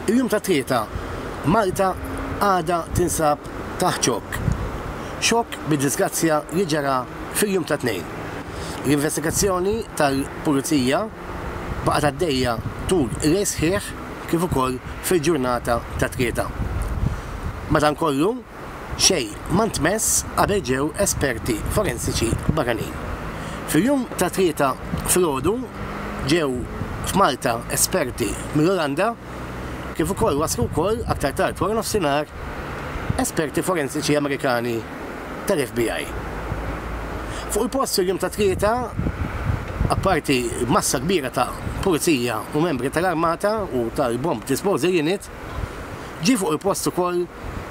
Il-jum ta' tlieta, Malta għadha tinsab taħt xokk. Xokk bid-disgrazzja li ġara fil-jum ta' Tnejn. L-investigazzjoni tal-Pulizija baqgħet għaddejja tul il-lejl sħiħ kif ukoll fil-ġurnata ta' tlieta. Madankollu, xejn ma ntmess qabel ġew esperti forensiċi barranin. Fil-jum ta' Tlieta filgħodu ġew f'Malta esperti mill-Olanda kif ukoll waslu wkoll aktar tard waranofsinhar esperti forensiċi Amerikani tal-FBI. Fuq il-post il-jum ta' Tlieta apparti massa kbira ta' pulizija u membri tal-armata u tal-bomb disposal unit, Ġie fuq il-post ukoll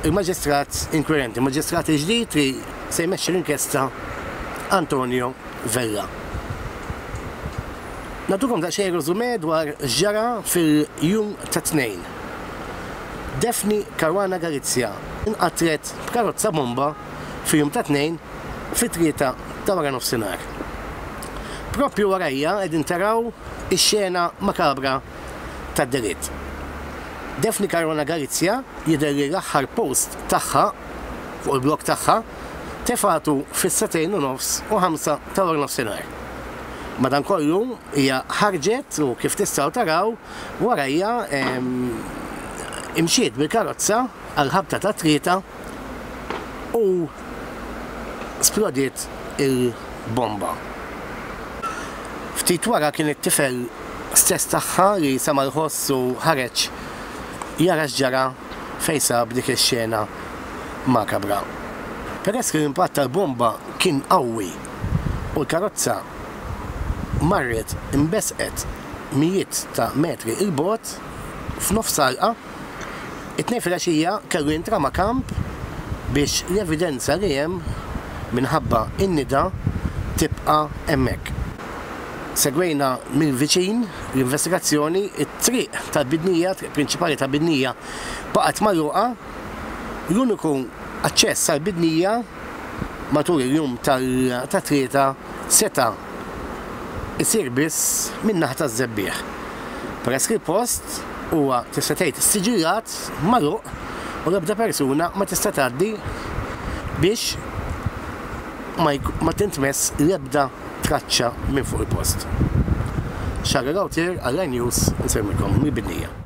il-Maġistrat inkwirenti, il-Maġistrat il-ġdid li se jmexxi l-inkjesta Antonio Vella. Nagħtukom daqsxejn reżumè dwar x'ġara fil-jum tat-Tnejn. Daphne Caruana Galizia nqatlet b'karozza bomba fil-jum tat-Tnejn fit-tlieta ta' waranofsinhar. Proprju warajha qegħdin taraw ix-xena makabra tad-diritt. Daphne Caruana Galizia jidher li l-aħħar post tagħha fuq il-blog tagħha tefgħetu fis-sagħtejn u nofs u ħamsa ta' warnofsinhar. Madankollu hija ħarġet u kif tistgħu taraw warajha imxiet bil-karozza għall-ħabta tat-tlieta u splodiet il-bomba. Ftit wara kien it-tifel stess tagħha li sema' l-ħoss u ħareġ jara x'ġara fejn sab dik ix-xena makabra. Peress li l-impatt tal-bomba kien qawwi u l-karozza marret imbesqet mijiet ta' metri 'l bogħod, f'nofs għalqa, It-Tnejn filgħaxija kellu jintrama kamp biex l-evidenza li hemm minħabba n-nida tibqa' hemmhekk. Segwejna mill-viċin l-investigazzjoni, it-triq tal-Bidnija, triq prinċipali ta' Bidnija, baqgħet magħluqa, l-uniku aċċess għall-Bidnija matul il-jum tat-Tlieta seta' isir biss min-naħa taż-żebbiegħ, peress li l-post huwa tista' tgħid issiġillat, magħluq u l-ebda persuna ma tista' tgħaddi biex ma tintmess l-ebda traċċa minn fuq il-post. Xagħar Lauter għal Rai News insellmilkom mill-Bidnija.